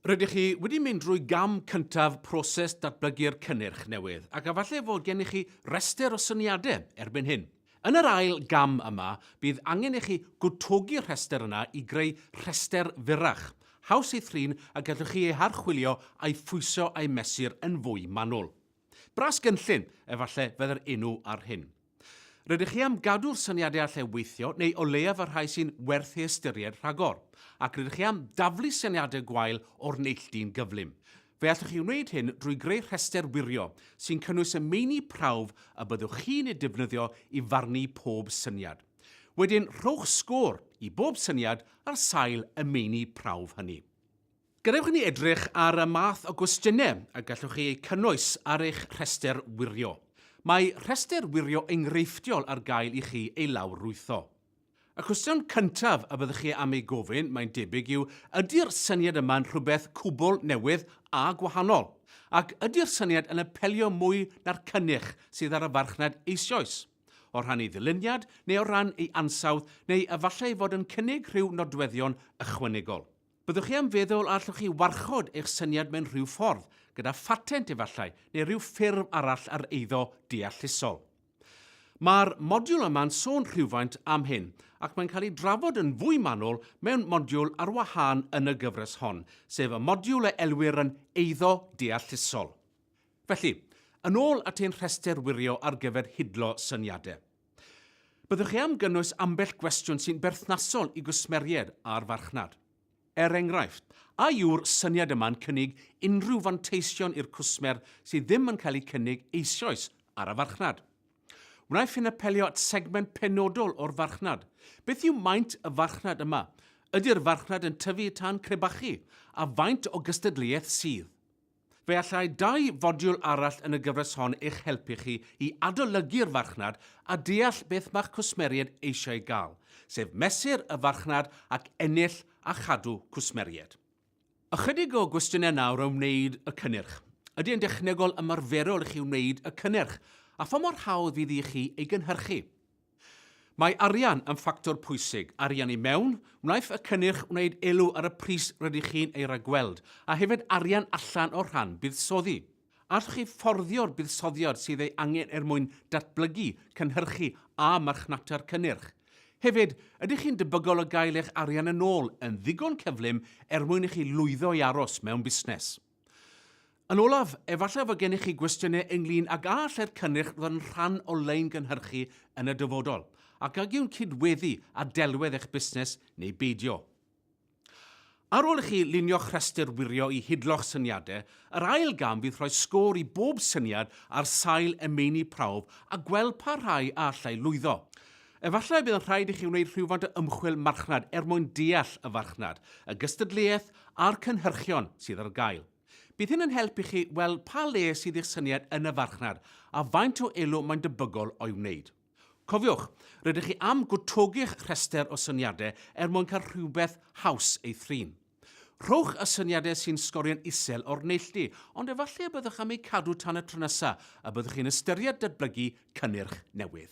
Rydych chi wedi mynd drwy gam cyntaf proses datblygu'r cynnyrch newydd ac efallai fod gennych chi restr o syniadau erbyn hyn. Yn yr ail gam yma, bydd angen i chi gwtogi'r rhestr yna i greu rhestr fyrrach, haws ei thrin a gallwch chi ei harchwilio a'i phwyso a'i mesur yn fwy manwl. Bras gynllun, efallai, fydd yr enw ar hyn. Rydych chi am gadw'r syniadau allai weithio, neu o leiaf y rhai sy'n werth ei ystyried rhagor, ac rydych chi am daflu syniadau gwael o'r neilltu'n gyflym. Fe allwch chi wneud hyn drwy greu rhestr wirio sy'n cynnwys y meini prawf y byddwch chi'n eu defnyddio i farnu pob syniad. Wedyn, rhowch sgôr i bob syniad ar sail y meini prawf hynny. Gadewch i ni edrych ar y math o gwestiynau y gallwch chi eu cynnwys ar eich rhestr wirio. Mae rhestr wirio enghreifftiol ar gael i chi ei lawrlwytho. Y cwestiwn cyntaf y byddwch chi am ei gofyn, mae'n debyg, yw ydy'r syniad yma'n rhywbeth cwbl newydd a gwahanol? Ac ydy'r syniad yn apelio mwy na'r cynnyrch sydd ar y farchnad eisioes? O rhan ei ddyluniad neu o ran ei ansawdd neu efallai fod yn cynnig rhyw nodweddion ychwanegol? Byddwch chi am feddwl a allwch chi warchod eich syniad mewn rhyw ffordd, gyda phatent efallai, neu rhyw ffurf arall ar eiddo deallusol. Mae'r modiwl yma'n sôn rhywfaint am hyn, ac mae'n cael ei drafod yn fwy manwl mewn modiwl ar wahân yn y gyfres hon, sef y modiwl a elwir yn eiddo deallusol. Felly, yn ôl at ein rhestr wirio ar gyfer hidlo syniadau. Byddwch chi am gynnwys ambell gwestiwn sy'n berthnasol i gwsmeriaid a'r farchnad. Er enghraifft, a yw'r syniad yma'n cynnig unrhyw fanteision i'r cwsmer sydd ddim yn cael eu cynnig eisoes ar y farchnad? Wnaiff hyn apelio at segment penodol o'r farchnad? Beth yw maint y farchnad yma? Ydy'r farchnad yn tyfu tan crebachu? A faint o gystadleuaeth sydd? Fe allai dau fodiwl arall yn y gyfres hon eich helpu chi i adolygu'r farchnad a deall beth mae'ch cwsmeriaid eisiau ei gael, sef mesur y farchnad ac ennill a chadw cwsmeriaid. Ychydig o gwestiynau nawr o wneud y cynnyrch. Ydy e'n dechnegol ymarferol i chi wneud y cynnyrch, a pha mor hawdd fydd i chi ei gynhyrchu? Mae arian yn ffactor pwysig, arian i mewn, wnaiff y cynnyrch wneud elw ar y pris rydych chi'n ei ragweld, a hefyd arian allan o rhan buddsoddi. Allwch chi fforddio'r buddsoddiad sydd ei angen er mwyn datblygu, cynhyrchu a marchnata'r cynnyrch? Hefyd, ydych chi'n debygol o gael eich arian yn ôl yn ddigon cyflym er mwyn i chi lwyddo i aros mewn busnes? Yn olaf, efallai fod gennych chi gwestiynau ynglyn ag a allai'r cynnyrch ddod yn rhan o lein gynhyrchu yn y dyfodol, ac ag yw'n cydweddu â delwedd eich busnes neu beidio. Ar ôl i chi lunio'ch rhestr wirio i hidlo'ch syniadau, yr ail gam fydd rhoi sgôr i bob syniad ar sail y meini prawf a gweld pa rhai a allai lwyddo. Efallai y bydd yn rhaid i chi wneud rhywfaint o ymchwil marchnad er mwyn deall y farchnad, y gystadleuaeth a'r cynhyrchion sydd ar gael. Bydd hyn yn helpu chi weld pa le sydd i'ch syniad yn y farchnad a faint o elw mae'n debygol o'i wneud. Cofiwch, rydych chi am gwtogi'ch rhestr o syniadau er mwyn cael rhywbeth haws ei thrin. Rhowch y syniadau sy'n sgorio'n isel o'r neilltu, ond efallai y byddwch am eu cadw tan y tro nesaf y byddwch chi'n ystyried datblygu cynnyrch newydd.